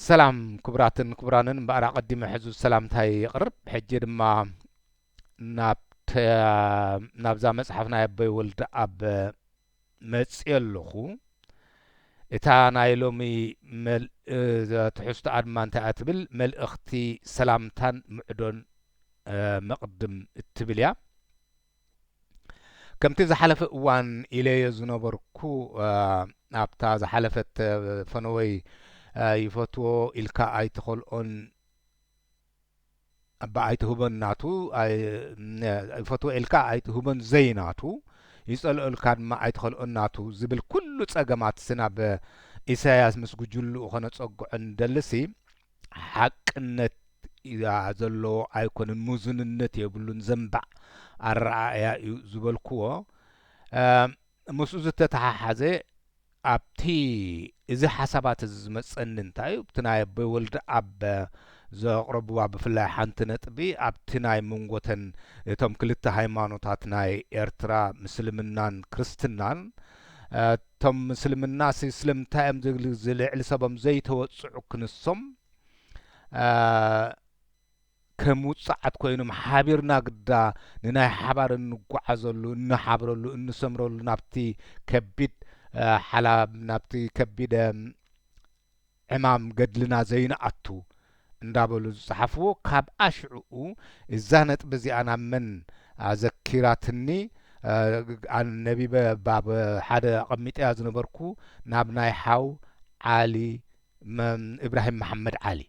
ሰላም ክቡራትን ክቡራንን እምበኣር ኣቐዲመ ሕዙ ሰላምታይ ይቕርብ ሕጂ ድማ ናብዛ መጽሓፍ ናይ ኣቦይ ወልድ ኣብ መጽዮ ኣለኹ እታ ናይ ሎሚ ትሕዝቶኣ ድማ እንታይ እያ ትብል መልእኽቲ ሰላምታን ምዕዶን መቕድም እትብል እያ ከምቲ ዝሓለፈ እዋን ኢለዮ ዝነበርኩ ኣብታ ዝሓለፈት ፈነወይ ይፈትዎ ኢልካ ኣይትኸልኦን እባ ኣይትህቦን ናቱ ይፈትዎ ኢልካ ኣይትህቦን ዘይናቱ ይጸልኦ ኢልካ ድማ ኣይትኸልኦን ናቱ ዝብል ኩሉ ጸገማት ስናብ ኢሳያስ ምስ ጉጅልኡ ኸነጸግዖ ንደልሲ ሓቅነት እያ ዘለዎ ኣይኮነን ምዙንነት የብሉን ዘንባዕ ኣረኣእያ እዩ ዝበልክዎ ምስኡ ዝተተሓሓዘ ኣብቲ እዚ ሓሳባት እዚ ዝመፀኒ እንታይ እዩ እቲ ናይ ኣቦይ ወልደ ኣብ ዘቕረብዋ ብፍላይ ሓንቲ ነጥቢ ኣብቲ ናይ መንጎተን እቶም ክልተ ሃይማኖታት ናይ ኤርትራ ምስልምናን ክርስትናን እቶም ምስልምናሲ ስለምንታይዮም ዝልዕሊ ሰቦም ዘይተወጽዑ ክንሶም ከም ውጽዓት ኮይኖም ሓቢርና ግዳ ንናይ ሓባር እንጓዓዘሉ እንሓብረሉ እንሰምረሉ ናብቲ ከቢድ ሓላ ናብቲ ከቢድ ዕማም ገድልና ዘይንኣቱ እንዳበሉ ዝጸሓፍዎ ካብኣ ሽዕኡ እዛ ነጥቢ እዚኣ ናብ መን ኣዘኪራትኒ ኣነቢበ ባብ ሓደ ኣቐሚጠያ ዝነበርኩ ናብ ናይ ሓው ዓሊ እብራሂም መሓመድ ዓሊ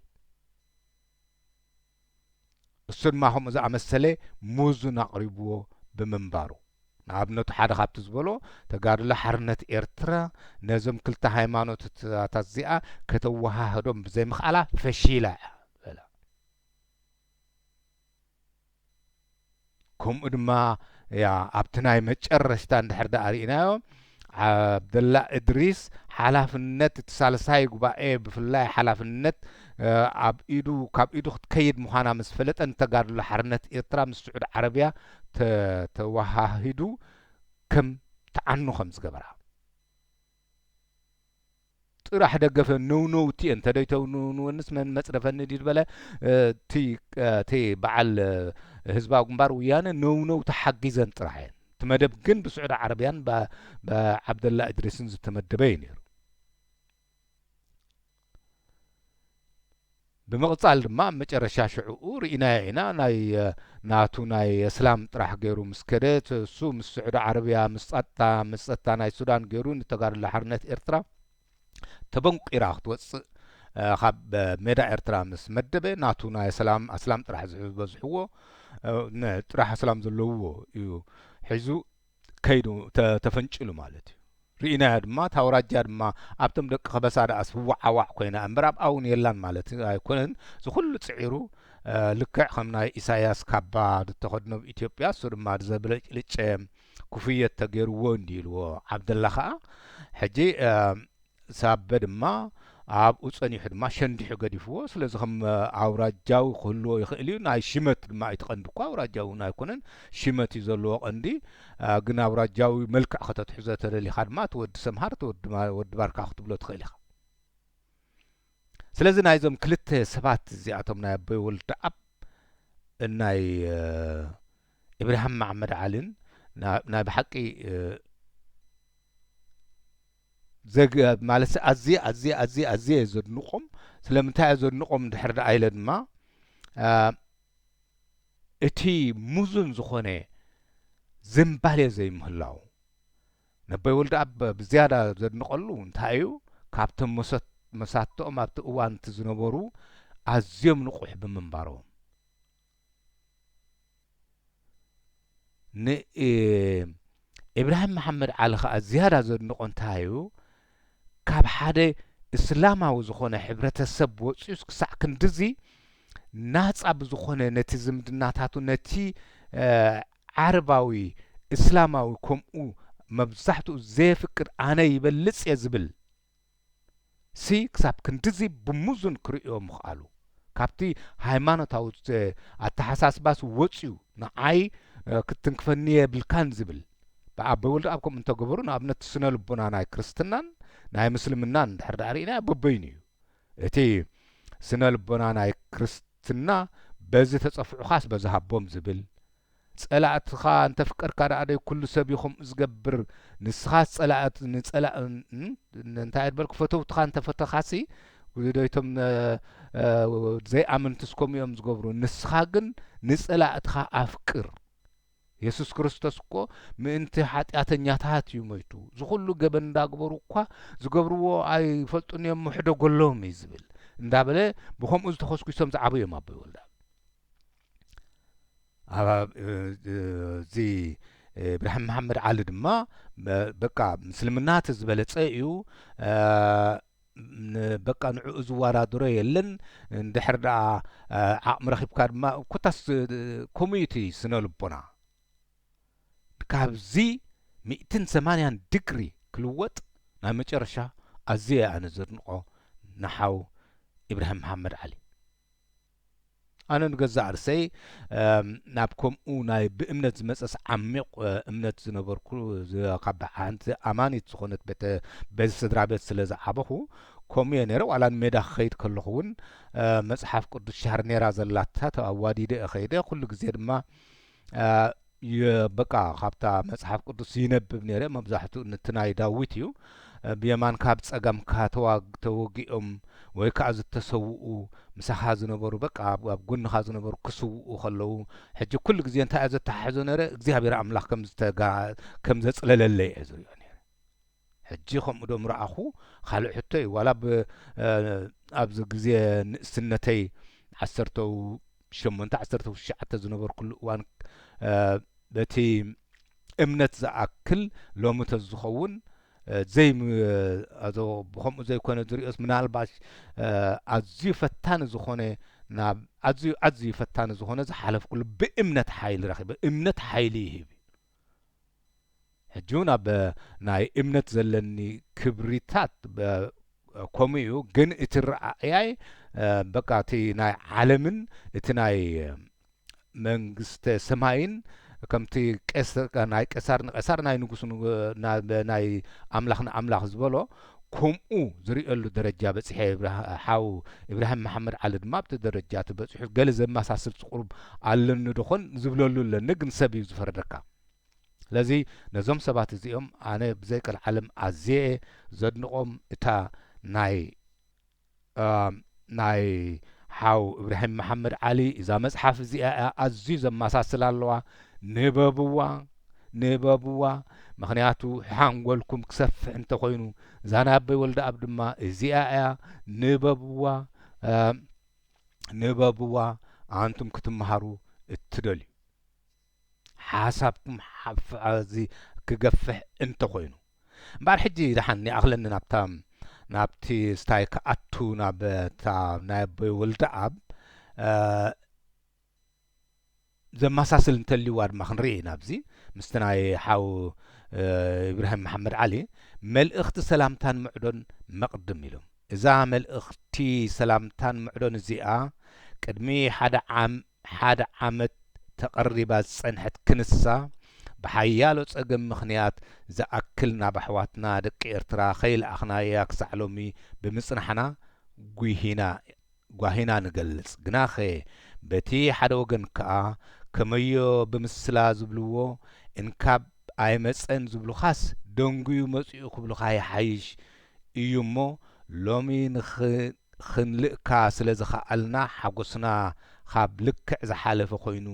እሱ ድማ ከምኡ ዝኣመሰለ ምዙን ኣቕሪቡዎ ብምንባሩ ንኣብነቱ ሓደ ካብቲ ዝበሎ ተጋድሎ ሓርነት ኤርትራ ነዞም ክልተ ሃይማኖትታታት እዚኣ ከተወሃህዶም ብዘይምኽኣላ ፈሺላ እያ በለ። ከምኡ ድማ ያ ኣብቲ ናይ መጨረሽታ እንድሕር ደኣ ርኢናዮ ዓብደላ እድሪስ ሓላፍነት እቲ ሳልሳይ ጉባኤ ብፍላይ ሓላፍነት ኣብ ኢዱ ካብ ኢዱ ክትከይድ ምዃና ምስ ፈለጠ ንተጋድሎ ሓርነት ኤርትራ ምስ ስዑድ ዓረብያ ተዋሃሂዱ ከም ትዓኑ ከም ዝገበራ ጥራሕ ደገፈ ነውነውቲ እየን ተደይተውንውንወንስ መን መፅረፈኒ ድዩ ዝበለ እቲ እቲ በዓል ህዝባዊ ግንባር ውያነ ነውነው ተሓጊዘን ጥራሕ እየን እቲ መደብ ግን ብስዑዲ ዓረብያን ብዓብደላ እድሪስን ዝተመደበ እዩ ነይሩ ብምቅጻል ድማ ኣብ መጨረሻ ሽዕኡ ሪኢናዮ ኢና ናይ ናቱ ናይ እስላም ጥራሕ ገሩ ምስ ከደ እሱ ምስ ስዑዲ ዓረብያ ምስ ጸጥታ ምስ ጸጥታ ናይ ሱዳን ገሩ ንተጋድሎ ሓርነት ኤርትራ ተበንቂራ ክትወጽእ ካብ ሜዳ ኤርትራ ምስ መደበ ናቱ ናይ ኣስላም ኣስላም ጥራሕ ዝበዝሕዎ ጥራሕ ኣስላም ዘለውዎ እዩ ሒዙ ከይዱ ተፈንጭሉ ማለት እዩ ርኢናያ ድማ ታውራጃ ድማ ኣብቶም ደቂ ከበሳ ደኣስ ህዋዓዋዕ ኮይና እምበር ኣብ ኣውን የላን ማለት ኣይኮነን ዝኩሉ ፅዒሩ ልክዕ ከም ናይ ኢሳያስ ካባ ዝተኸድኖ ብ ኢትዮጵያ እሱ ድማ ዘብለጭልጨ ኩፍየት ተገይርዎ እንዲ ኢልዎ ዓብደላ ከዓ ሕጂ ሳበ ድማ ኣብኡ ጸኒሑ ድማ ሸንዲሑ ገዲፍዎ። ስለዚ ከም ኣውራጃዊ ክህልዎ ይኽእል እዩ። ናይ ሽመት ድማ እቲ ቀንዲ እኳ ኣውራጃዊ እውን ኣይኮነን። ሽመት እዩ ዘለዎ ቀንዲ። ግን ኣውራጃዊ መልክዕ ከተትሕዞ ተደሊኻ ድማ እቲ ወዲ ሰምሃር እቲ ወዲ ባርካ ክትብሎ ትኽእል ኢኻ። ስለዚ ናይዞም ክልተ ሰባት እዚኣቶም ናይ ኣቦይ ወልደኣብ ናይ ኢብራሂም መሓመድ ዓሊን ናይ ብሓቂ ዘግ ማለትሲ ኣዝየ ኣዝየ ኣዝየ ኣዝየ እየ ዘድንቆም ስለምንታይ እየ ዘድንቆም እንድሕር ደኣ ኢለ ድማ እቲ ሙዙን ዝኾነ ዝንባሌ ዘይምህላው ነቦይ ወልደኣብ ብዝያዳ ዘድንቀሉ እንታይ እዩ ካብቶም መሰት መሳትኦም ኣብቲ እዋን እቲ ዝነበሩ ኣዝዮም ንቁሕ ብምንባሮም ንኢብራሂም መሓመድ ዓሊ ከኣ ዝያዳ ዘድንቖ እንታይ እዩ፣ ካብ ሓደ እስላማዊ ዝኾነ ሕብረተሰብ ወጺኡስ ክሳዕ ክንድዚ ናጻ ብዝኾነ ነቲ ዝምድናታቱ ነቲ ዓረባዊ እስላማዊ ከምኡ መብዛሕትኡ ዘየፍቅድ ኣነ ይበልጽ እየ ዝብል ሲ ክሳብ ክንድዚ ብሙዙን ክርእዮ ምኽኣሉ ካብቲ ሃይማኖታዊ ኣተሓሳስባስ ወጽዩ ንዓይ ክትትንክፈኒ የብልካን ዝብል ብኣቦይ ወልደኣብ ከምኡ እንተገበሩ ንኣብነት ስነ ልቦና ናይ ክርስትናን ናይ ምስልምናን እንድሕር ደኣ ርኢናዮ በበይኑ እዩ እቲ ስነ ልቦና ናይ ክርስትና በዚ ተጸፍዑኻስ በዚ ሃቦም ዝብል ጸላእትኻ እንተፍቀርካ ደኣ ደይ ኩሉ ሰብ እዩ ከምኡ ዝገብር ንስኻስ ጸላእት ንጸላ እንታይ እየ በልኩ ፈተውትኻ እንተፈተኻሲ ዶይቶም ዘይኣመንትስ ከምኡ እዮም ዝገብሩ ንስኻ ግን ንጸላእትኻ ኣፍቅር የሱስ ክርስቶስ እኮ ምእንቲ ሓጢኣተኛታት እዩ ሞይቱ ዝኹሉ ገበን እንዳግበሩ እኳ ዝገብርዎ ኣይፈልጡን እዮም ምሕደጎሎም እዩ ዝብል እንዳበለ ብከምኡ ዝተኸስኪሶም ዝዓበዩ እዮም ኣቦይ ወልዳ እዚ ብርሃን መሓመድ ዓሊ ድማ በቃ ምስልምና እቲ ዝበለፀ እዩ በቃ ንዕኡ ዝወዳድሮ የለን እንድሕር ደኣ ዓቕሚ ረኺብካ ድማ ኮታስ ከምኡ እዩ እቲ ስነ ልቦና ካብዚ ሚእትን ሰማንያን ድግሪ ክልወጥ ናይ መጨረሻ ኣዝየ ኣነ ዘድንቆ ንሓው ኢብራሂም መሓመድ ዓሊ ኣነ ንገዛእ ርሰይ ናብ ከምኡ ናይ ብእምነት ዝመጸስ ዓሚቕ እምነት ዝነበርኩ ካብ ሓንቲ ኣማኒት ዝኾነት ቤተ በዚ ስድራ ቤት ስለ ዝዓበኹ ከምኡ እየ ነረ ዋላ ንሜዳ ክኸይድ ከለኹ እውን መጽሓፍ ቅዱስ ሻርኔራ ዘላታ ኣዋዲደ እኸይደ ኩሉ ግዜ ድማ በቃ ካብታ መጽሓፍ ቅዱስ ይነብብ ነይረ መብዛሕትኡ ንቲ ናይ ዳዊት እዩ ብየማንካ ብ ጸጋምካ ተወጊኦም ወይ ከዓ ዝተሰውኡ ምሳኻ ዝነበሩ በቃ ኣብ ጎንኻ ዝነበሩ ክስውኡ ከለዉ ሕጂ ኩሉ ግዜ እንታይ እየ ዘተሓሕዞ ነረ እግዚኣብሔር ኣምላኽ ከም ዘጽለለለይ እየ ዝሪኦ ነረ ሕጂ ከምኡ ዶ ምርኣኹ ኻልእ ሕቶ እዩ ዋላ ብ ኣብዚ ግዜ ንእስነተይ ዓሰርተው ሸሞንተ ዓሰርተው ትሽዓተ ዝነበርኩሉ እዋን በቲ እምነት ዝኣክል ሎሚ ተዝኸውን ዘይ ኣዞ ብከምኡ ዘይኮነ ዝሪኦስ ምናልባሽ ኣዝዩ ፈታኒ ዝኾነ ናብ ኣዝዩ ኣዝዩ ፈታኒ ዝኾነ ዝሓለፍኩሉ ብእምነት ሓይሊ ረኺበ እምነት ሓይሊ ይህብ እዩ ሕጂውን ኣብ ናይ እምነት ዘለኒ ክብሪታት ከምኡ እዩ ግን እቲ ረኣእያይ በቃ እቲ ናይ ዓለምን እቲ ናይ መንግስተ ሰማይን ከምቲ ናይ ቀሳር ንቀሳር ናይ ንጉስ ናይ ኣምላኽ ንኣምላኽ ዝበሎ ከምኡ ዝርእየሉ ደረጃ በጺሐ ሓው ኢብራሂም መሓመድ ዓሊ ድማ ኣብቲ ደረጃ እቲ በጺሑ ገለ ዘመሳስል ጽቁሩብ ኣለኒ ዶኾን ዝብለሉ ኣለኒ ግን ሰብ እዩ ዝፈርደካ ስለዚ ነዞም ሰባት እዚኦም ኣነ ብዘይቀልዓለም ኣዝየ ዘድንቆም እታ ናይ ናይ ሓው እብራሂም መሓመድ ዓሊ እዛ መጽሓፍ እዚኣ እያ ኣዝዩ ዘመሳስላ ኣለዋ ንበብዋ ንበብዋ ምክንያቱ ሓንጎልኩም ክሰፍሕ እንተኮይኑ ዛናበይ ወልደኣብ ድማ እዚኣ እያ ንበብዋ ንበብዋ ኣንቱም ክትመሃሩ እትደልዩ ሓሳብኩም ሓፍኣዚ ክገፍሕ እንተኾይኑ እምበኣር ሕጂ ደሓን ይኣኽለኒ ናብታ ናብቲ ስታይ ክኣቱ ናብ እታ ናይ ኣቦይ ወልደኣብ ዘመሳስል እንተልዩዋ ድማ ክንርኢ ናብዚ ምስቲ ናይ ሓው ኢብራሂም መሓመድ ዓሊ መልእኽቲ ሰላምታን ምዕዶን መቕድም ኢሎም እዛ መልእኽቲ ሰላምታን ምዕዶን እዚኣ ቅድሚ ሓደ ዓም ሓደ ዓመት ተቐሪባ ዝጸንሐት ክንሳ፣ ብሓያሎ ጸገም ምኽንያት ዝኣክል ናብ ኣሕዋትና ደቂ ኤርትራ ከይልኣኽናያ ክሳዕ ሎሚ ብምጽናሕና ጒሂና ጓሂና ንገልጽ። ግናኸ በቲ ሓደ ወገን ከኣ ከመዮ ብምስላ ዝብልዎ እንካብ ኣይመጸን ዝብሉኻስ ደንጉዩ መጺኡ ክብሉኻ ይሓይሽ እዩ እሞ ሎሚ ንኽ ኽንልእካ ስለ ዝኸኣልና ሓጐስና ኻብ ልክዕ ዝሓለፈ ዀይኑ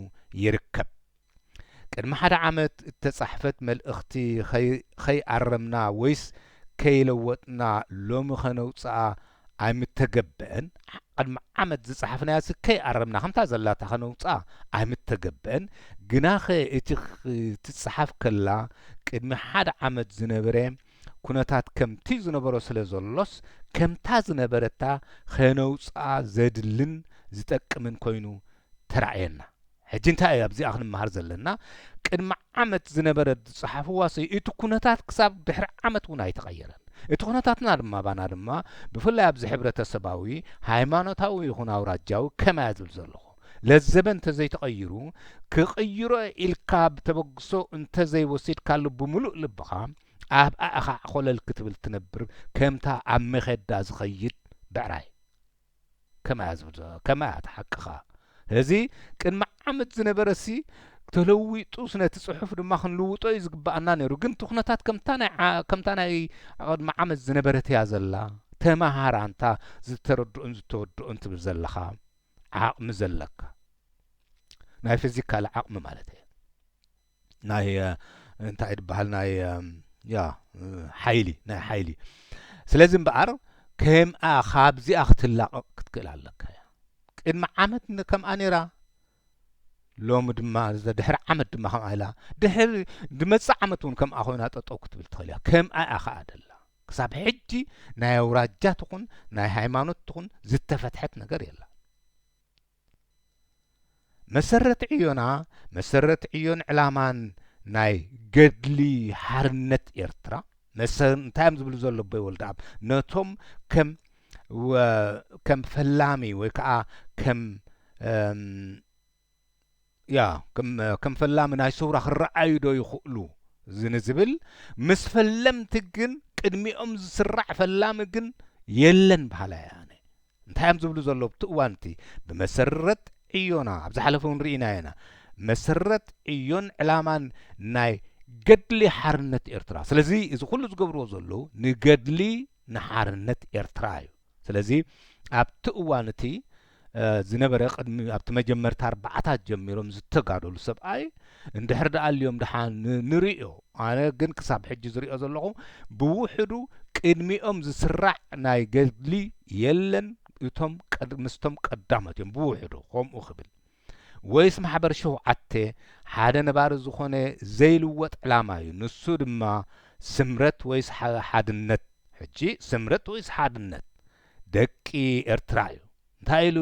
ይርከብ። ቅድሚ ሓደ ዓመት እተጻሕፈት መልእኽቲ ኸይኣረምና ወይስ ከይለወጥና ሎሚ ኸነውጽኣ ኣይምተገብአን። ቕድሚ ዓመት ዝጸሓፍናያስ ከይኣረምና ኸምታ ዘላታ ኸነውጽኣ ኣይምተገብአን። ግናኸ እቲ ኽትጽሓፍ ከላ ቅድሚ ሓደ ዓመት ዝነበረ ኩነታት ከምቲ ዝነበሮ ስለ ዘሎስ ከምታ ዝነበረታ ከነውጽኣ ዘድልን ዝጠቅምን ኮይኑ ተራእየና። ሕጂ እንታይ እዩ ኣብዚኣ ክንመሃር ዘለና ቅድሚ ዓመት ዝነበረት ዝጸሓፍዋ ሰ እቲ ኩነታት ክሳብ ድሕሪ ዓመት እውን ኣይተቐየረን። እቲ ኩነታትና ድማ ባና ድማ ብፍላይ ኣብዚ ሕብረተሰባዊ ሃይማኖታዊ ይኹን ኣውራጃዊ ከመያ ዝብል ዘለኹ። ለዘበ እንተዘይተቐይሩ፣ ክቕይሮ'የ ኢልካ ብተበግሶ እንተዘይወሲድካሉ ብምሉእ ልብኻ ኣብ ኣእኻዕ ኾለል ክትብል ትነብር ከምታ ኣብ መኼዳ ዝኸይድ ብዕራይ። ከማያ ዝብል ከማያ እቲ ሓቅኻ። እዚ ቅድሚ ዓመት ዝነበረሲ ተለዊጡስ ነቲ ጽሑፍ ድማ ክንልውጦ እዩ ዝግባኣና ነይሩ ግን እቲ ኩነታት ከምታ ናይ ከምታ ናይ ቅድሚ ዓመት ዝነበረት እያ ዘላ ተመሃር ኣንታ ዝተረድኡን ዝተወድኡን ትብል ዘለኻ ዓቕሚ ዘለካ ናይ ፊዚካል ዓቕሚ ማለት እየ ናይ እንታይ ድበሃል ናይ ያ ሓይሊ ናይ ሓይሊ ስለዚ እምበኣር ከምኣ ካብዚኣ ክትላቐቕ ክትክእል ኣለካ እያ ቅድሚ ዓመት ከምኣ ነይራ ሎሚ ድማ ድሕሪ ዓመት ድማ ከምኣ ኢላ ድሕሪ ዝመፅእ ዓመት እውን ከምኣ ኮይና ጠጠው ክትብል ትኽእል እያ ከምኣ እያ ከዓ ደላ ክሳብ ሕጂ ናይ ኣውራጃ ትኹን ናይ ሃይማኖት ትኹን ዝተፈትሐት ነገር የላን። መሰረት ዕዮና መሰረት ዕዮን ዕላማን ናይ ገድሊ ሓርነት ኤርትራ መሰ እንታይ እዮም ዝብሉ ዘሎ ኣቦይ ወልደኣብ ነቶም ከም ከም ፈላሚ ወይ ከዓ ከም ያ ከም ፈላሚ ናይ ሰውራ ክረኣዩ ዶ ይኽእሉ ንዝብል ምስ ፈለምቲ ግን ቅድሚኦም ዝስራዕ ፈላሚ ግን የለን በሃላይ እየ ኣነ። እንታይ እዮም ዝብሉ ዘለዉ ኣብቲ እዋን እቲ ብመሰረት ዕዮና ኣብ ዝሓለፈ እውን ርኢናዮ ኢና መሰረት ዕዮን ዕላማን ናይ ገድሊ ሓርነት ኤርትራ ስለዚ እዚ ኩሉ ዝገብርዎ ዘለዉ ንገድሊ ንሓርነት ኤርትራ እዩ ስለዚ ኣብቲ እዋን እቲ ዝነበረ ቅድሚ ኣብቲ መጀመርታ ኣርባዓታት ጀሚሮም ዝተጋደሉ ሰብኣይ እንድሕር ደኣ ኣልዮም ደሓ ንርእዮ ኣነ ግን ክሳብ ሕጂ ዝርእዮ ዘለኹ ብውሕዱ ቅድሚኦም ዝስራዕ ናይ ገድሊ የለን እቶም ምስቶም ቀዳሞት እዮም ብውሕዱ ከምኡ ክብል ወይስ ማሕበር ሸውዓተ ሓደ ነባሪ ዝኾነ ዘይልወጥ ዕላማ እዩ ንሱ ድማ ስምረት ወይስ ሓድነት ሕጂ ስምረት ወይስ ሓድነት ደቂ ኤርትራ እዩ እንታይ ኢሉ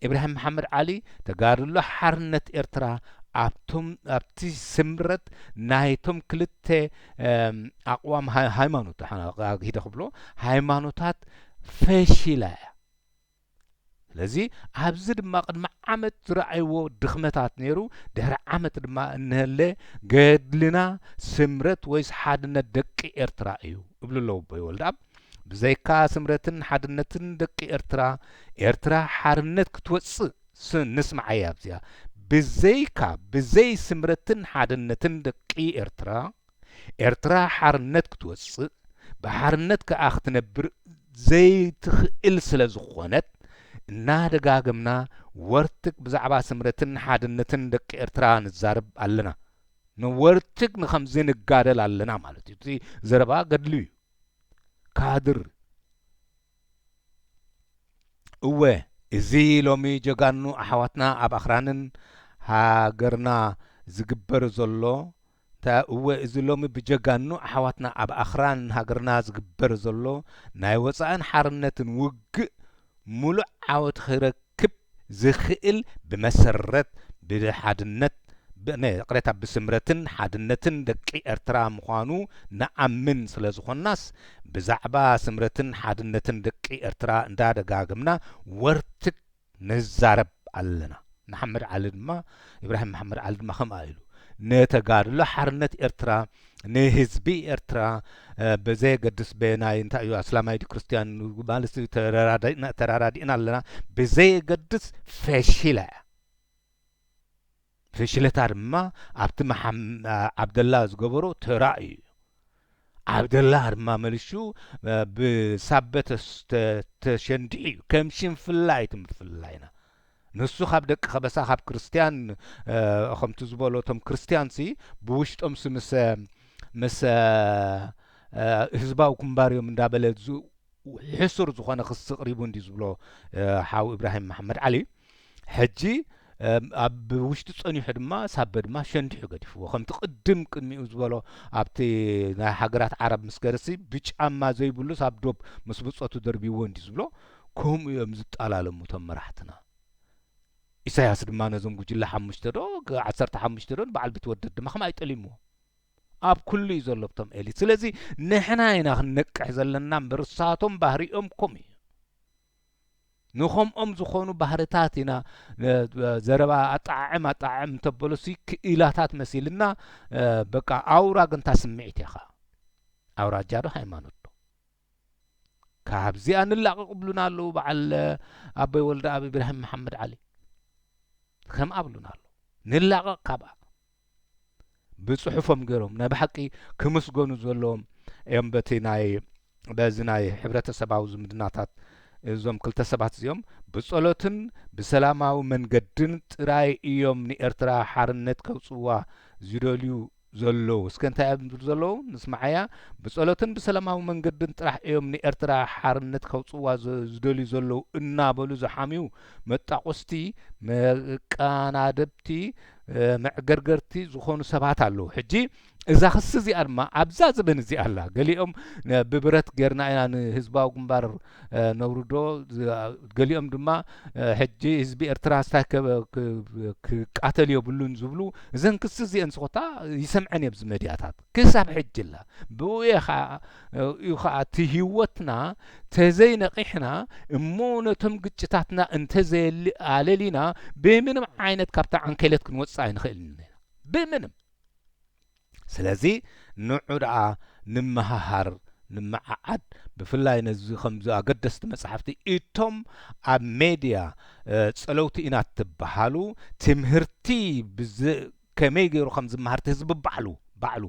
ኢብራሂም መሓመድ ዓሊ ተጋድሎ ሓርነት ኤርትራ ኣብቶም ኣብቲ ስምረት ናይቶም ክልተ ኣቕዋም ሃይማኖት ሂደ ክብሎ ሃይማኖታት ፈሺላ እያ ስለዚ ኣብዚ ድማ ቅድሚ ዓመት ዝረኣይዎ ድኽመታት ነይሩ፣ ድሕሪ ዓመት ድማ እንሀለ ገድልና ስምረት ወይስ ሓድነት ደቂ ኤርትራ እዩ እብሉ ኣለዉ ኣቦይ ወልደኣብ። ብዘይካ ስምረትን ሓድነትን ደቂ ኤርትራ፣ ኤርትራ ሓርነት ክትወጽእ ስ ንስምዓያ ኣብዚኣ፣ ብዘይካ ብዘይ ስምረትን ሓድነትን ደቂ ኤርትራ፣ ኤርትራ ሓርነት ክትወጽእ ብሓርነት ከኣ ክትነብር ዘይትኽእል ስለ ዝኾነት እናደጋገምና ወርትግ ብዛዕባ ስምረትን ሓድነትን ደቂ ኤርትራ ንዛረብ ኣለና ንወርትግ ንኸምዚ ንጋደል ኣለና ማለት እዩ እቲ ዘረባ ገድሊ እዩ ካድር እወ እዚ ሎሚ ጀጋኑ ኣሕዋትና ኣብ ኣኽራንን ሃገርና ዝግበር ዘሎ እንታይ እወ እዚ ሎሚ ብጀጋኑ ኣሕዋትና ኣብ ኣኽራን ሃገርና ዝግበር ዘሎ ናይ ወጻእን ሓርነትን ውግእ ምሉእ ዓወት ኺረክ ክረክብ ዝኽእል ብመሰረት ብሓድነት ይቕሬታ ብስምረትን ሓድነትን ደቂ ኤርትራ ምዃኑ ንኣምን ስለ ዝኾንናስ ብዛዕባ ስምረትን ሓድነትን ደቂ ኤርትራ እንዳ ደጋገምና ወርትግ ንዛረብ ኣለና መሓመድ ዓሊ ድማ ኢብራሂም መሓመድ ዓሊ ድማ ከምኣ ኢሉ ንተጋድሎ ሓርነት ኤርትራ ንህዝቢ ኤርትራ ብዘየገድስ በየናይ እንታይ እዩ ኣስላማይ ድዩ ክርስትያን ማለት እዩ ተራዳኢና ተራዳዲእና ኣለና ብዘየገድስ ፈሽላ እያ ፍሽለታ ድማ ኣብቲ መሓም- ኣ- ዓብደላ ዝገበሮ ተራ እዩ ዓብደላ ድማ መልሹ እ፣ ብሳበ ተስ- ተ- ተሸንዲዑ እዩ ከም ሽንፍላ እዩ እቲ ምፍላይና ንሱ ኻብ ደቂ ኸበሳ ኻብ ክርስትያን ኸምቲ ዝበሎ እቶም ክርስትያንሲ ብውሽጦምሲ ምስ ምስ ህዝባዊ ግንባር እዮም እንዳበለ ሕሱር ዝኾነ ክሲ ቅሪቡ እንዲ ዝብሎ ሓው ኢብራሂም መሓመድ ዓሊ ሕጂ ኣብ ውሽጢ ጸኒሑ ድማ ሳበ ድማ ሸንዲሑ ገዲፍዎ ከምቲ ቅድም ቅድሚኡ ዝበሎ ኣብቲ ናይ ሃገራት ዓረብ ምስ ገርሲ ብጫማ ዘይብሉስ ኣብ ዶብ ምስ ብጾቱ ደርቢዎ እንዲ ዝብሎ ከምኡ እዮም ዝጣላለሙ እቶም መራሕትና። ኢሳያስ ድማ ነዞም ጉጅለ ሓሙሽተ ዶ ዓሰርተ ሓሙሽተ ዶ ንበዓል ቢትወደድ ድማ ከማይ ጠሊምዎ ኣብ ኩሉ እዩ ዘሎ ብቶም ኤሊት ስለዚ ንሕና ኢና ክንነቅሕ ዘለና እምበር እሳቶም ባህሪኦም ኮም እዩ ንኸምኦም ዝኾኑ ባህርታት ኢና ዘረባ ኣጠዓዕም ኣጠዓዕም እንተበለሱ ክኢላታት መሲልና በቃ ኣውራ ግንታ ስምዒት ኢኻ ኣውራጃ ዶ ሃይማኖት ካብዚኣ ንላቀቅ ብሉና ኣለዉ በዓል ኣቦይ ወልደኣብ ኢብራሂም መሓመድ ዓሊ ከምኣ ብሉና ኣለዉ ንላቀቅ ካብኣ ብጽሑፎም ገይሮም ናይ ብሓቂ ክምስገኑ ዘለዎም እዮም በቲ ናይ በዚ ናይ ሕብረተሰባዊ ዝምድናታት እዞም ክልተ ሰባት እዚኦም ብጸሎትን ብሰላማዊ መንገድን ጥራይ እዮም ንኤርትራ ሓርነት ከውጽዋ ዝደልዩ ዘለዉ እስከ እንታይ እዮም ዝብሉ ዘለዉ ንስማዓያ ብጸሎትን ብሰላማዊ መንገድን ጥራሕ እዮም ንኤርትራ ሓርነት ከውጽዋ ዝደልዩ ዘለዉ እናበሉ ዝሓምዩ መጣቖስቲ መቃናደብቲ መዕገርገርቲ ዝኾኑ ሰባት ኣለዉ ሕጂ እዛ ክሲ እዚኣ ድማ ኣብዛ ዝበን እዚኣ ኣላ ገሊኦም ብብረት ጌርና ኢና ንህዝባዊ ግንባር ነውርዶ ገሊኦም ድማ ሕጂ ህዝቢ ኤርትራ ስታይ ክቃተል የብሉን ዝብሉ እዘን ክሲ እዚአን ስኮታ ይሰምዐን እየ መድያታት ክሳብ ሕጂ ላ ብኡ ከዓ እዩ ከዓ እቲ ህይወትና ተዘይነቂሕና እሞ ነቶም ግጭታትና እንተዘየኣለሊና ብምንም ዓይነት ካብታ ዓንኬለት ክንወፅእ ኣይንኽእልን ብምንም ስለዚ ንዑ ደኣ ንመሃሃር ንመዓዓድ ብፍላይ ነዚ ከምዚ ኣገደስቲ መጻሕፍቲ እቶም ኣብ ሜድያ ጸለውቲ ኢና እትበሃሉ ትምህርቲ ብዘ ከመይ ገይሩ ከም ዝመሃር እቲ ህዝቢ ባዕሉ ባዕሉ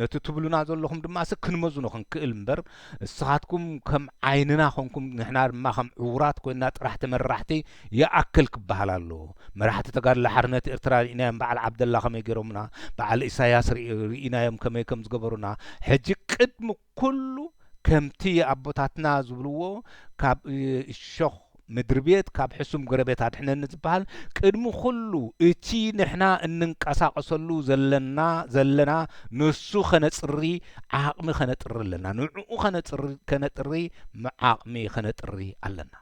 ነቲ ትብሉና ዘለኹም ድማ ስ ክንመዝኖ ክንክእል እምበር እስኻትኩም ከም ዓይንና ኮንኩም ንሕና ድማ ከም ዕውራት ኮይና ጥራሕ ተመራሕቲ ይኣክል ክበሃል ኣለዎ መራሕቲ ተጋድሎ ሓርነት ኤርትራ ሪኢናዮም በዓል ዓብደላ ከመይ ጌሮምና በዓል ኢሳያስ ሪኢናዮም ከመይ ከም ዝገበሩና ሕጂ ቅድሚ ኩሉ ከምቲ ኣቦታትና ዝብልዎ ካብ እሾኽ ምድርቤት ካብ ሕሱም ጎረቤት ኣድሕነኒ ዝበሃል ቅድሚ ኩሉ እቲ ንሕና እንንቀሳቐሰሉ ዘለና ዘለና ንሱ ከነጽሪ ዓቕሚ ከነጥሪ ኣለና ንዕኡ ከነጽሪ ከነጥሪ ዓቕሚ ከነጥሪ ኣለና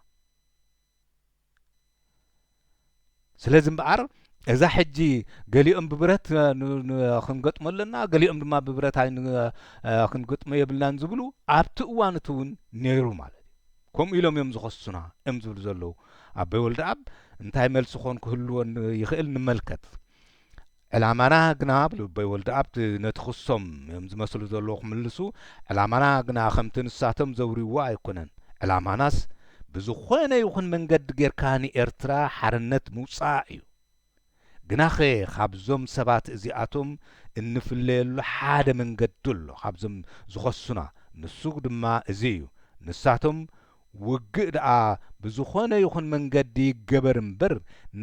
ስለዚ እምበኣር እዛ ሕጂ ገሊኦም ብብረት ክንገጥሞ ኣለና ገሊኦም ድማ ብብረት ክንገጥሞ የብልናን ዝብሉ ኣብቲ እዋን እቲ እውን ነይሩ ማለት እዩ ከምኡ ኢሎም እዮም ዝኸሱና እዮም ዝብሉ ዘለዉ ኣቦይ ወልደኣብ እንታይ መልሲ ኮን ክህልዎ ይኽእል ንመልከት ዕላማና ግና ብ ልበይ ወልደኣብ ነቲ ክሶም ዮም ዝመስሉ ዘለዉ ክምልሱ ዕላማና ግና ከምቲ ንሳቶም ዘውርይዎ ኣይኮነን ዕላማናስ ብዝኾነ ይኹን መንገዲ ጌርካ ንኤርትራ ሓርነት ምውጻኣ ዩ ግናኸ ካብዞም ሰባት እዚኣቶም እንፍለየሉ ሓደ መንገዲ ኣሎ ካብዞም ዝኸሱና ንሱ ድማ እዚ ዩ ንሳቶም ውግእ ደኣ ብዝኾነ ይኹን መንገዲ ይገበር እምበር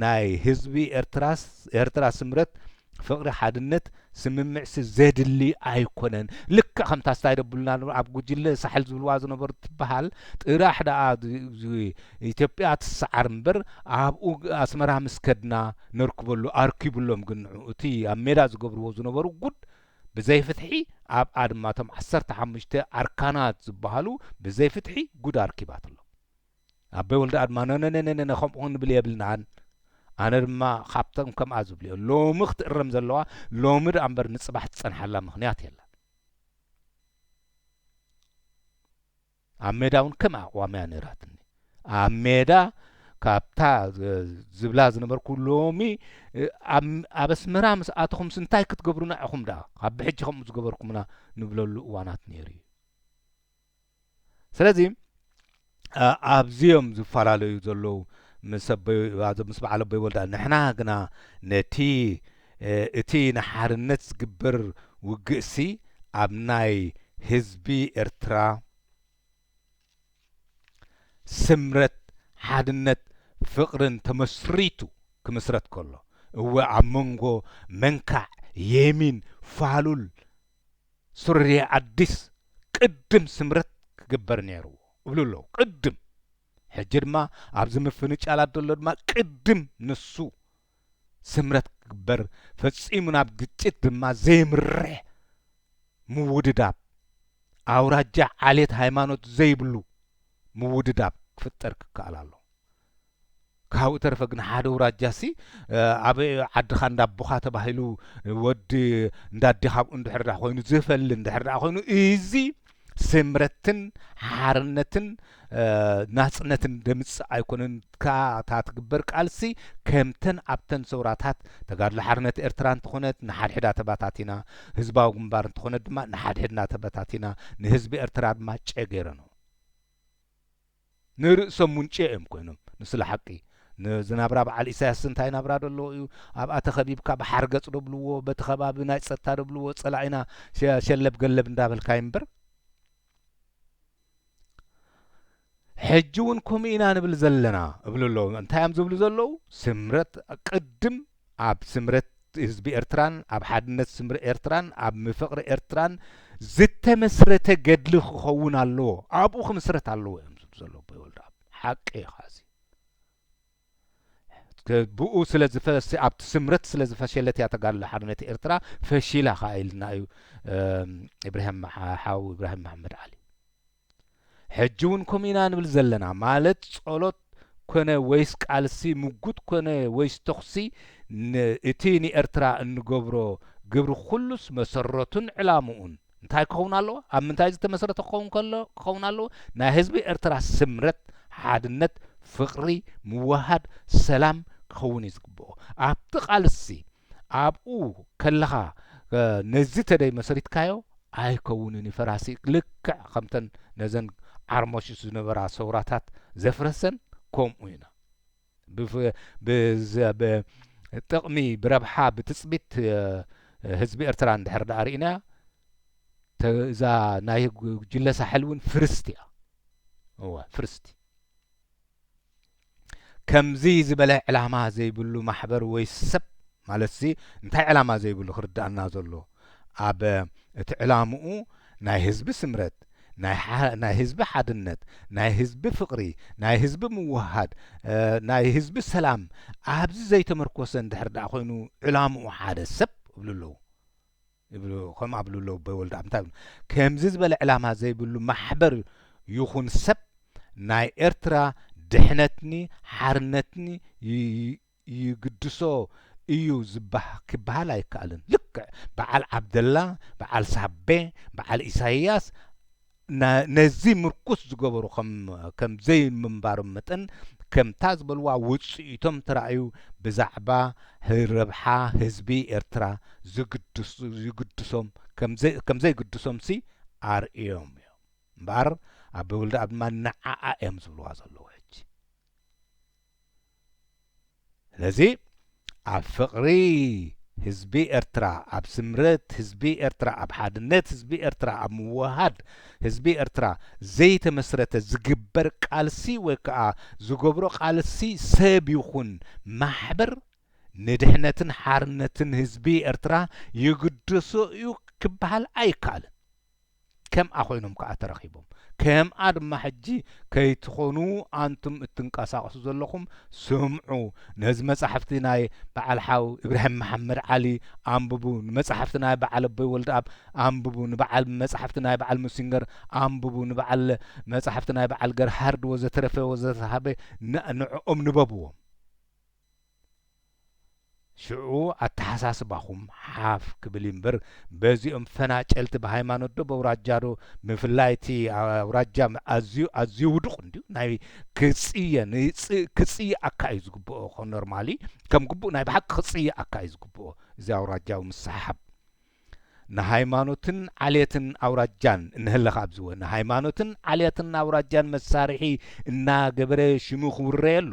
ናይ ህዝቢ ኤርትራስ ኤርትራ ስምረት ፍቕሪ ሓድነት ስምምዕሲ ዘድሊ ኣይኮነን ልክዕ ከምታ ስታይ ደብሉና ን ኣብ ጉጅለ ሳሕል ዝብልዋ ዝነበሩ ትበሃል ጥራሕ ደኣ ን ኢትዮጵያ ትሰዓር እምበር ኣብኡ ኣስመራ ምስ ከድና ነርክበሉ ኣርኪብሎም ግን ንዑ እቲ ኣብ ሜዳ ዝገብርዎ ዝነበሩ ጉድ ብዘይ ፍትሒ ኣብ ኣድማ እቶም ዓሰርተ ሓሙሽተ ኣርካናት ዝባሃሉ ብዘይ ፍትሒ ጉድ ኣርኪባትሎ ኣበይ ወልደ ኣድማ ነነነነነ ከምኡ ክንብል የብልናን ኣነ ድማ ካብቶም ከምኣ ዝብልዮ ሎሚ ክትእረም ዘለዋ ሎሚ ደኣ እምበር ንጽባሕ ትጸንሓላ ምክንያት የላ ኣብ ሜዳ ውን ከም ኣቕዋም እያ ነይራትኒ ኣብ ሜዳ ካብታ ዝብላ ዝነበርኩ ሎሚ ኣብ ኣስመራ ምስ ኣተኹምስ እንታይ ክትገብሩና ኢኹም ደኣ ካብ ብሕጂ ከምኡ ዝገበርኩምና ንብለሉ እዋናት ነይሩ እዩ ስለዚ ኣብዚኦም ዝፈላለዩ ዘለዉ ምስ ኣቦይ ምስ በዓል ኣቦይ ወልዳ ንሕና ግና ነቲ እቲ ንሓርነት ዝግበር ውግእሲ ኣብ ናይ ህዝቢ ኤርትራ ስምረት፣ ሓድነት፣ ፍቕርን ተመስሪቱ ክምስረት ከሎ፣ እወ ኣብ መንጎ መንካዕ፣ የሚን፣ ፋሉል፣ ሱርየ ኣዲስ ቅድም ስምረት ክግበር ነይርዎ እብሉ ኣለዉ። ቅድም። ሕጂ ድማ ኣብዚ ምፍንጫላት ዘሎ ድማ ቅድም ንሱ። ስምረት ክግበር ፈጺሙ ናብ ግጭት ድማ ዘየምርሕ ምውድዳብ ኣውራጃ ዓሌት ሃይማኖት ዘይብሉ ምውድዳብ ክፍጠር ክከኣል ኣሎ ካብኡ ተረፈ ግን ሓደ ውራጃሲ ኣብ ዓድኻ እንዳቦኻ ተባሂሉ ወዲ እንዳዴኻብኡ እንድሕር ኮይኑ ዝፈሊ እንድሕር ኮይኑ እዚ ስምረትን ሓርነትን ናጽነትን ደምጽ ኣይኮነን ካታ ትግበር ቃልሲ ከምተን ኣብተን ሰውራታት ተጋድሎ ሓርነት ኤርትራ እንትኾነት ንሓድሕዳ ተባታቲና ህዝባዊ ግንባር እንትኾነት ድማ ንሓድሕድና ተበታቲና ንህዝቢ ኤርትራ ድማ ጨገይረኖ ንርእሶም ሙንጭዕ እዮም ኮይኖም ንስለ ሓቂ ነዚ ናብራ በዓል ኢሳያስ እንታይ ናብራ ዶ ኣለዎ እዩ ኣብኣ ተኸቢብካ ብሓርገጽ ዶ ብልዎ በቲ ከባቢ ናይ ጸጥታ ዶ ብልዎ ጸላኢና ሸለብ ገለብ እንዳበልካዮም እምበር ሕጂ እውን ከምኡ ኢና ንብል ዘለና እብሉ ኣለዉ እንታይ እዮም ዝብሉ ዘለዉ ስምረት ቅድም ኣብ ስምረት ህዝቢ ኤርትራን ኣብ ሓድነት ስምር ኤርትራን ኣብ ምፍቕሪ ኤርትራን ዝተመስረተ ገድሊ ክኸውን ኣለዎ ኣብኡ ክምስረት ኣለዎ እዮም ዝብ ዘሎ ኣቦይ ወልደኣብ ሓቂ እዩ ኸዚ ብኡ ስለ ዝፈስ ኣብቲ ስምረት ስለ ዝፈሸለት እያ ተጋድሎ ሓርነት ኤርትራ ፈሺላ ከዓ ኢልና እዩ ኢብራሂም ሓው ኢብራሂም መሓመድ ዓሊ ሕጂ ውን ከምኡ ኢና ንብል ዘለና ማለት ጸሎት ኮነ ወይስ ቃልሲ ምጉት ኮነ ወይስ ተኹሲ ን እቲ ንኤርትራ እንገብሮ ግብሪ ኩሉስ መሰረቱን ዕላሙኡን እንታይ ክኸውን ኣለዎ ኣብ ምንታይ ዝተመስረተ ክኸውን ከሎ ክኸውን ኣለዎ ናይ ህዝቢ ኤርትራ ስምረት ሓድነት ፍቅሪ ምውህሃድ ሰላም ክኸውን እዩ ዝግብኦ ኣብቲ ቃልሲ ኣብኡ ከለኻ ነዚ ተደይ መሰሪትካዮ ኣይከውንን እዩ ፈራሲ ልክዕ ከምተን ነዘን ዓርሞሽሽ ዝነበራ ሰውራታት ዘፍረሰን ከምኡ ኢና ብጥቕሚ ብረብሓ ብትፅቢት ህዝቢ ኤርትራ እንድሕር ዳኣ ርኢናያ እዛ ናይ ጉጅለ ሳሕል እውን ፍርስቲ እያ እወ ፍርስቲ ከምዚ ዝበለ ዕላማ ዘይብሉ ማሕበር ወይ ሰብ ማለትሲ እንታይ ዕላማ ዘይብሉ ክርድኣና ዘሎ ኣብ እቲ ዕላምኡ ናይ ህዝቢ ስምረት ናይ ህዝቢ ሓድነት ናይ ህዝቢ ፍቕሪ ናይ ህዝቢ ምውህሃድ ናይ ህዝቢ ሰላም ኣብዚ ዘይተመርኮሰ እንድሕር ደኣ ኮይኑ ዕላምኡ ሓደ ሰብ እብሉ ኣለዉ ይብሉ ከምኡ ኣብሉ ኣለዉ ኣቦይ ወልደኣብ እንታይ ይብሉ ከምዚ ዝበለ ዕላማ ዘይብሉ ማሕበር ይኹን ሰብ ናይ ኤርትራ ድሕነትኒ ሓርነትኒ ይግድሶ እዩ ክበሃል ኣይከኣልን ልክዕ በዓል ዓብደላ በዓል ሳቤ በዓል ኢሳይያስ ነዚ ምርኩስ ዝገበሩ ከም ዘይምንባሮም መጠን፣ ከምታ ዝበልዋ ውጽኢቶም ተራእዩ ብዛዕባ ረብሓ ህዝቢ ኤርትራ ዝግድሶም ከም ዘይግድሶምሲ ኣርእዮም እዮም። እምበኣር ኣቦይ ወልደኣብ ድማ ንዓኣ እዮም ዝብልዋ ዘለዉ ሕጂ። ስለዚ ኣብ ፍቕሪ ህዝቢ ኤርትራ፣ ኣብ ስምረት ህዝቢ ኤርትራ፣ ኣብ ሓድነት ህዝቢ ኤርትራ፣ ኣብ ምውህሃድ ህዝቢ ኤርትራ ዘይተመስረተ ዝግበር ቃልሲ ወይ ከኣ ዝገብሮ ቃልሲ ሰብ ይኹን ማሕበር ንድሕነትን ሓርነትን ህዝቢ ኤርትራ ይግደሶ እዩ ክበሃል ኣይከኣልን። ከምኣ ኮይኖም ከኣ ተረኺቦም። ከምኣ ድማ ሕጂ ከይትኾኑ ኣንቱም እትንቀሳቐሱ ዘለኹም ስምዑ፣ ነዚ መጻሕፍቲ ናይ በዓል ሓው ኢብራሂም መሓመድ ዓሊ ኣንብቡ፣ ንመጻሕፍቲ ናይ በዓል ኣቦይ ወልደኣብ ኣንብቡ፣ ንበዓል መጻሕፍቲ ናይ በዓል ሙሲንገር ኣንብቡ፣ ንበዓል መጻሕፍቲ ናይ በዓል ገርሃርድ ወዘተረፈ ወዘተረፈ ንዕኦም ንበብዎም። ሽዑ ኣተሓሳስባኹም ሓፍ ክብል እዩ እምበር በዚኦም ፈናጨልቲ ብሃይማኖትዶ በውራጃዶ ብፍላይ እቲ ኣውራጃ ኣዝዩ ኣዝዩ ውዱቕ እንድዩ ናይ ክጽየ ክጽየኣካ እዩ ዝግብኦ ኖርማሊ ከም ግቡእ ናይ ብሓቂ ክጽየኣካ እዩ ዝግብኦ እዚ ኣውራጃዊ ምስሓብ ንሃይማኖትን ዓሌትን ኣውራጃን እንህለኽ ኣብዝወ ንሃይማኖትን ዓሌትን ኣውራጃን መሳርሒ እናገበረ ሽሙ ክውረየሉ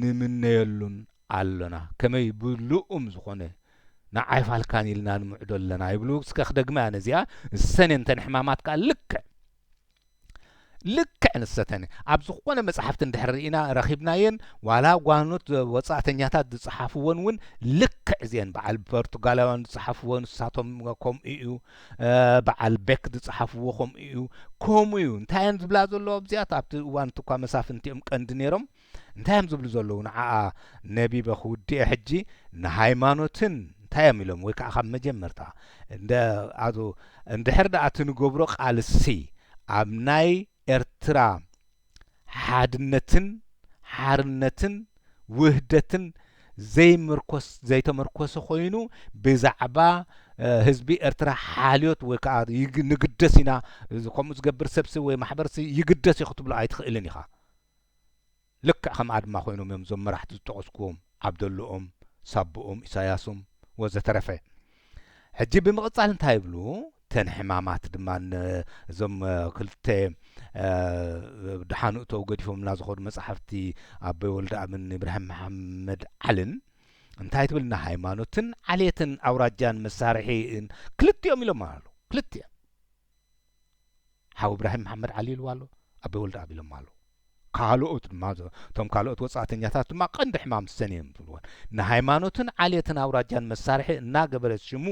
ንምነየሉን ኣሎና ከመይ ብልኡም ዝኾነ ንዓይፋልካን ኢልና ንምዕዶ ኣለና ይብሉ እስከ ክደግማ እያ ነዚኣ ሰኔንተን ሕማማት ከኣ ልክዕ ልክዕ ንሰተን ኣብ ዝኾነ መጽሓፍቲ እንድሕር ኢና ረኺብናየን ዋላ ጓኖት ወጻእተኛታት ዝጸሓፍዎን እውን ልክዕ እዚአን በዓል ፖርቱጋላውያን ዝጸሓፍዎ ንሳቶም ከምኡ እዩ በዓል ቤክ ዝጸሓፍዎ ከምኡ'ዩ ከምኡ'ዩ እንታይ እየን ዝብላ ዘለዋ ኣብዚኣት ኣብቲ እዋን እኳ መሳፍንቲ እዮም ቀንዲ ነይሮም እንታይ እዮም ዝብሉ ዘለዉ ንዓኣ ነቢበ ክውድኤ ሕጂ ንሃይማኖትን እንታይ እዮም ኢሎም ወይ ከዓ ካብ መጀመርታ እንደ ኣቶ እንድሕር ደኣ እቲ ንገብሮ ቃልሲ ኣብ ናይ ኤርትራ ሓድነትን ሓርነትን ውህደትን ዘይምርኮስ ዘይተመርኮሰ ኮይኑ ብዛዕባ ህዝቢ ኤርትራ ሓልዮት ወይ ከዓ ንግደስ ኢና ከምኡ ዝገብር ሰብሲ ወይ ማሕበርሲ ይግደስ እዩ ክትብሎ ኣይትኽእልን ኢኻ። ልክዕ ከም ኣድማ ኮይኖም እዮም እዞም መራሕቲ ዝጠቐስኩዎም። ዓብደሉኡም ሳቡኡም ኢሳያሱም ወዘተረፈ ሕጂ ብምቕጻል እንታይ ይብሉ ተን ሕማማት ድማ እዞም ክልተ ድሓኑ እተው ገዲፎምና ዝኾኑ መጻሕፍቲ ኣቦይ ወልደኣብን ኢብራሂም መሓመድ ዓልን እንታይ ትብል ንሃይማኖትን ዓሌትን ኣውራጃን መሳርሒ ክልቲኦም ኢሎም ኣሉ ክልቲኦም ሓው እብራሂም መሓመድ ዓሊ ኢልዋ ኣሎ ኣቤ ወልደኣብ ኢሎማ ኣለዉ ካልኦት ድማ እቶም ካልኦት ወጻእተኛታት ድማ ቀንዲ ሕማም ሰን እዮም ዝብልዎን ንሃይማኖትን ዓሌትን ኣውራጃን መሳርሒ እናገበረ ሽሙ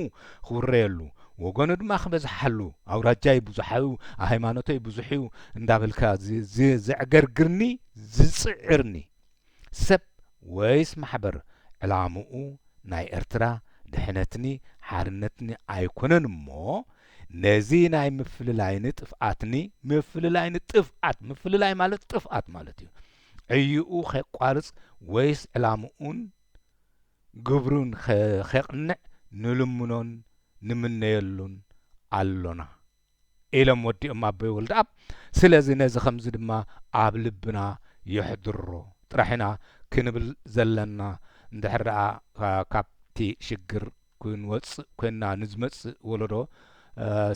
ክውረየሉ ወገኑ ድማ ክበዝሓሉ ኣውራጃይ ብዙሓዩ ሃይማኖተይ ብዙሕዩ እንዳበልካ ዘዕገርግርኒ ዝጽዕርኒ ሰብ ወይስ ማሕበር ዕላምኡ ናይ ኤርትራ ድሕነትኒ ሓርነትኒ ኣይኮነን እሞ ነዚ ናይ ምፍልላይኒ ጥፍኣትኒ ምፍልላይኒ ጥፍኣት ምፍልላይ ማለት ጥፍኣት ማለት እዩ ዕይኡ ኼቋርጽ ወይስ ዕላምኡን ግብሩን ኼቕንዕ ንልምኖን ንምነየሉን ኣሎና። ኢሎም ወዲኦም ኣቦይ ወልደኣብ ስለዚ ነዚ ከምዚ ድማ ኣብ ልብና የሕድሮ ጥራሕ ኢና ክንብል ዘለና እንድሕር ደኣ ካብቲ ሽግር ክንወጽእ ኮይንና ንዝመጽእ ወለዶ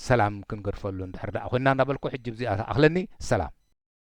ሰላም ክንገድፈሉ እንድሕር ደኣ ኮይንና እንዳበልኩ ሕጂ ብዚኣ ትኣኽለኒ ሰላም።